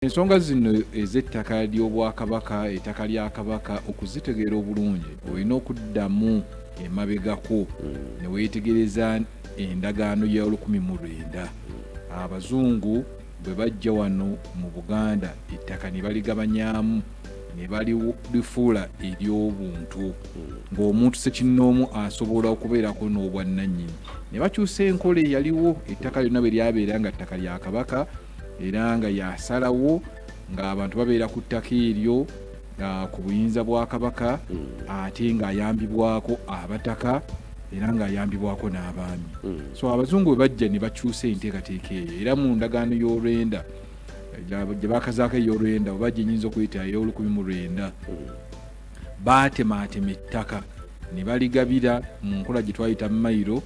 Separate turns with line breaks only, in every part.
Ensonga zino ez'ettaka ly'Obwakabaka, ettaka lya Kabaka, okuzitegeera obulungi olina okuddamu emabegako mm. ne weetegereza endagaano ya olukumi mu lwenda Abazungu bwe bajja wano mu Buganda ettaka ne baligabanyaamu ne balifuula ery'obuntu mm. ng'omuntu sekinnoomu asobola okubeerako n'obwannannyini ne bakyusa enkola eyaliwo ettaka lyonna bwe lyabeera nga ttaka lya Kabaka era nga yasalawo ng'abantu babeera ku ttaka eryo uh, ku buyinza bwa kabaka mm. ate ng'ayambibwako abataka era ng'ayambibwako n'abaami mm. so abazungu bwe bajja ne bakyusa enteekateeka eyo era mu ndagaano y'olwenda gye bakazaako ey'olwenda oba gyenyinza okuyita ey'olukumi mu lwenda mm. baatemaatema ettaka ne baligabira mu nkola gye twayita mayiro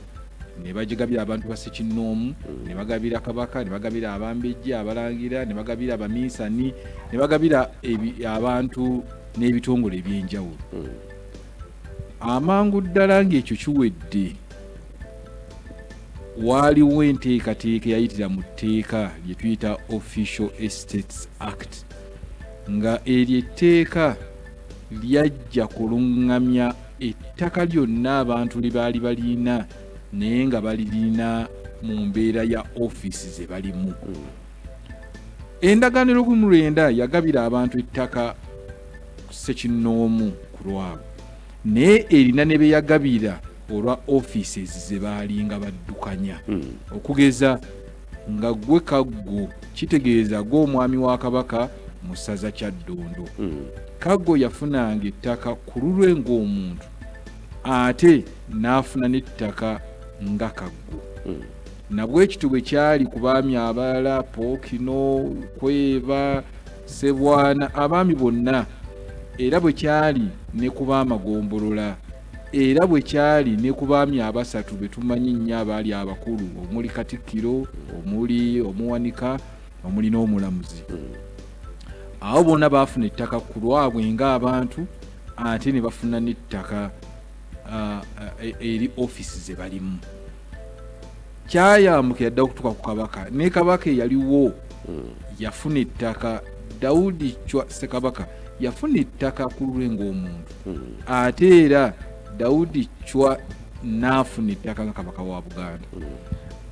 ne bagigabira abantu basekinnoomu ne bagabira kabaka ne bagabira abambejja abalangira ne bagabira abaminsani ne bagabira abantu n'ebitongole eby'enjawulo hmm. amangu ddala ng'ekyo kiwedde waaliwo enteekateeka eyayitira mu tteeka lye tuyita official estates act nga eryo etteeka lyajja kuluŋŋamya ettaka lyonna abantu lye baali balina naye nga balirina mu mbeera ya ofiisi ze balimu hmm. endagaano erukumi lwenda yagabira abantu ettaka sekinnoomu ku lwabo naye erina ne be yagabira olwa ofiisi ezi ze baalinga baddukanya hmm. okugeza nga gwe kaggo kitegeeza gwe omwami wa kabaka mu ssaza kyaddondo hmm. kaggo yafunanga ettaka ku lulwe ng'omuntu ate n'afuna n'ettaka nga kaggo hmm. nabwekityo bwe kyali ku baami abalala pookino kweba sebwana abaami bonna era bwe kyali ne ku baamagombolola Era bwe kyali ne ku baami abasatu be tumanyi ennyo abaali abakulu omuli Katikkiro, omuli Omuwanika, omuli n'Omulamuzi. Abo bona baafuna ettaka ku lwabwe ng'abantu ate ne bafuna n'ettaka ah, e- eri ofiisi ze balimu. Kyayambuka yadda okutuuka ku Kabaka ne Kabaka eyaliwo yafuna ettaka Daudi Chwa Ssekabaka yafuna ettaka ku lulwe ng'omuntu. ate era dawudi cwa n'afuna ettaka nga kabaka wa buganda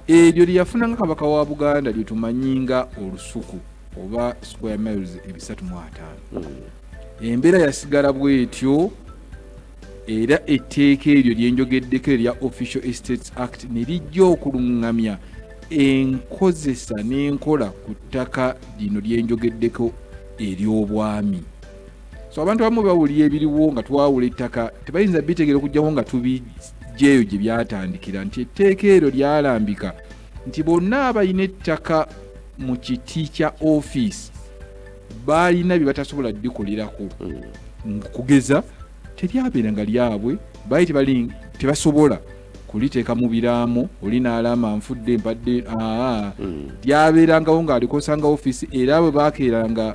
eryo lyeyafuna nga kabaka wa buganda lyetumanyi nga olusuku oba square miles ebisatu mu ataano hmm. embeera yasigala bwetyo era etteeka eryo lyenjogeddeko erya official estates act ne lijja okuluŋŋamya enkozesa n'enkola ku ttaka lino lyenjogeddeko ery'obwami so abantu abamu bawulira ebiriwo nga twawula ettaka tebayinza bitegeera okugyawo nga tubijjeeyo gye byatandikira nti etteeka eryo lyalambika nti bonna abalina ettaka mu kiti kya ofiisi baalina bye batasobola dikolerako mm. kugeza teryabeera nga lyabwe baali tebali tebasobola kuliteeka mu biraamo oli n'alaama nfudde mpadde aa mm. lyabeerangawo ng'alikosangawo ofiisi era bwe baakeeranga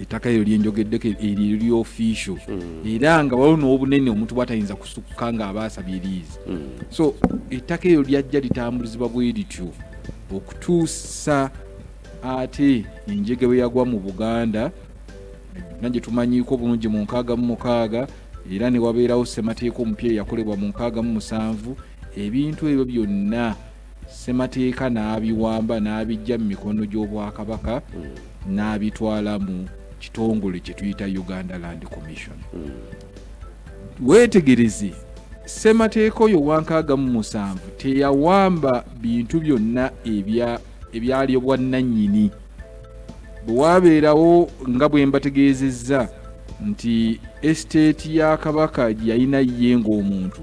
ettaka eryo lyenjogeddeko eryo eri official mm. era nga waliwo n'obunene omuntu bwatayinza kusukka ng'aba asabye liizi mm. so ettaka eryo lyajja litambuzibwa bwe lityo okutuusa ate enjege bwe yagwa mu buganda nagye tumanyiiko bulungi mu nkaaga mu mukaaga era ne wabeerawo ssemateeka omupya eyakolebwa mu nkaaga mu musanvu ebintu ebyo byonna Ssemateeka n'abiwamba n'abiggya mu mikono gy'Obwakabaka n'abitwala mu kitongole kye tuyita Uganda Land Commission. Weetegereze, Ssemateeka oyo Wankaaga mu musanvu teyawamba bintu byonna ebya ebyali obwannannyini. Bwe waabeerawo nga bwe mbategeezezza nti esiteeti ya Kabaka gye yalina ye ng'omuntu,